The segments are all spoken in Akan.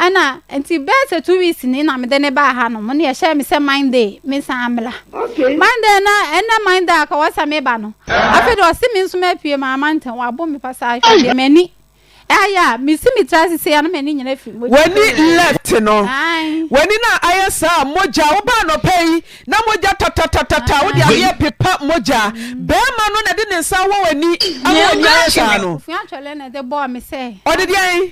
Ɛna nti bɛyɛ sɛ two weeks ni na mede ne baa hanom ne ɛhyɛɛ me sɛ Monday mensan mmra. Monday na ɛnɛ Monday a ka wɔ sɛ meba no, afei deɛ ɔse me nso mapue maa Mantam, wabo me pasaa hwɛ deɛ m'ani ayɛ a mesi me tiri ase sei a na m'ani nyinaa firi mogya. W'ani left no, w'ani no a ayɛ saa a mogya, wobaa anɔpa yi na mogya tatatatatata wode adeɛ repepa mogya, barima no na ɛde ne nsa awɔ w'ani ama w'ani ayɛ saa no? Ɔde deɛn?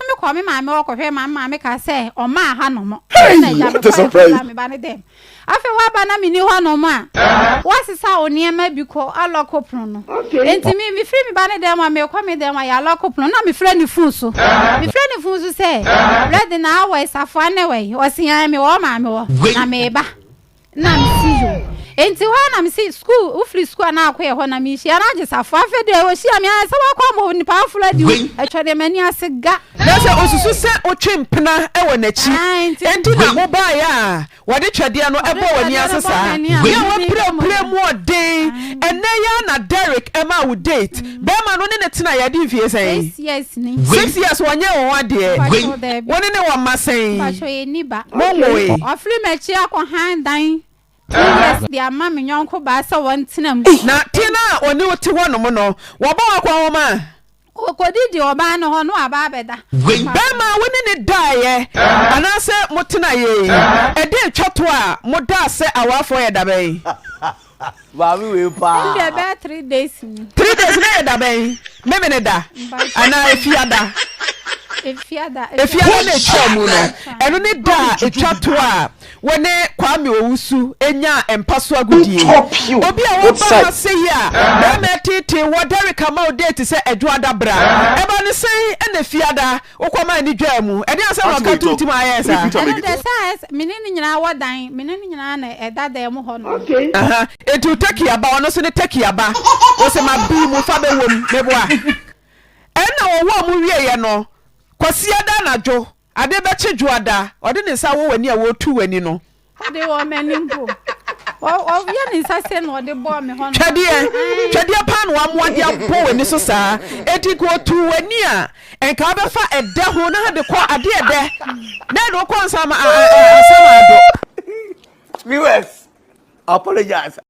Me kɔɔ me maame hɔ kɔhwɛɛ ma me maame kaa sɛ ɔmaa ha nom. Hey! Na agya What a mekɔɛ surprise! kɔsraa me ba no dɛm. Afei w'aba na menni hɔ nom a, w'asesa wo nneɛma bi kɔ alɔko pono no. Okay. Enti me mefiri me ba no dɛm a mekɔ me dɛm a yɛ alɔko pono na mefrɛ ne fon so. Mefrɛ ne fon so sɛ, Brɛde na awɔe, safoa ne wɛn? Ɔse, Ɛɛ mewɔ wo maame hɔ Wei. na meba. na mesi yo enti hɔ na mesi school wofiri school a na akɔ yɛ hɔ na mehyia no agye safo afei deɛ ɔhyia me ayɛ sɛ wakɔ ama onipa aforo adi wo ɛtwa deɛ m'ani ase ga na sɛ ɔsusu sɛ wotwe mpena wɔ n'akyi enti na wobaeɛ a wɔde twɛdeɛ no bɔɔ w'ani ase saa yɛ wapirapira mu ɔden ɛnnɛ yi ara na Derek maa wo date Bɛɛma no ne ne tena yɛ adi mfie sɛn? Six years ni. Six years wɔnyɛɛ wo ho adeɛ? Mpakyɛw daabi. Wo ne ne wɔ mma sɛn? Mpakyɛw yɛ nni ba. Mo nwoe? Wafiri m'akyi akɔ hann dan two years de ama me yɔnko baa sɛ wɔn tena mu. Na te no a ɔne wo te hɔ nom no, wɔbɔ wo akɔn hɔ ma? Ɔkɔ didi ɔbaa no hɔ na waba abɛda. Mpakyɛw. Bɛɛma a wo ne ne daeɛ anaasɛ mo tena yɛ yi, ɛdee twa to a mo daa sɛ awarefoɔ yɛ da bɛn? Maame wei paa. Ɛnde ɛbɛyɛ three days ni. Three days na yɛ da bɛn? Memene da anaa efiada? Efiada. Efiada na etwa mu no. Ɛno ne da a etwa to a wɔne Kwame Owusu nyaa mpaso agodie. Obi a waba ha sɛ yi a bɛrima ɛteetee wɔ Derrick ama wo date sɛ Adwoada bra. Ɛba no sɛn na efiada Wokɔ man no dwaa mu. Ɛdeɛn asɛm na ɔka too ntim a ayɛɛ saa? Ɛno deɛ saa ɛ, me ne no nyinaa wɔ dan, me ne no nyinaa na ɛda dan mu hɔ nom. Aha, enti wo takia ba, ɔno nso ne takia ba, ose mabii mu fa bɛwom, meboa. Ɛnna wɔwɔɔ mu wieeɛ no, Kwasiada anadwo, adeɛ bɛkye Dwoada, ɔde ne nsa wɔ w'ani a ɔretu w'ani no, Ɔde wɔ m'ani mpo. Ɔyɛ ne nsa sɛ na ɔde bɔɔ me hɔ no. Twɛdeɛ, twɛdeɛ paa na wamoa de abɔ w'ani so saa. Enti nka ɔtuu w'ani a, nka wobɛfa ɛdɛ ho na de kɔ adeɛ ɛdɛ. Dɛn na wokɔ nsa ma a, a, a, asɛm a ado. Viewers, apologize.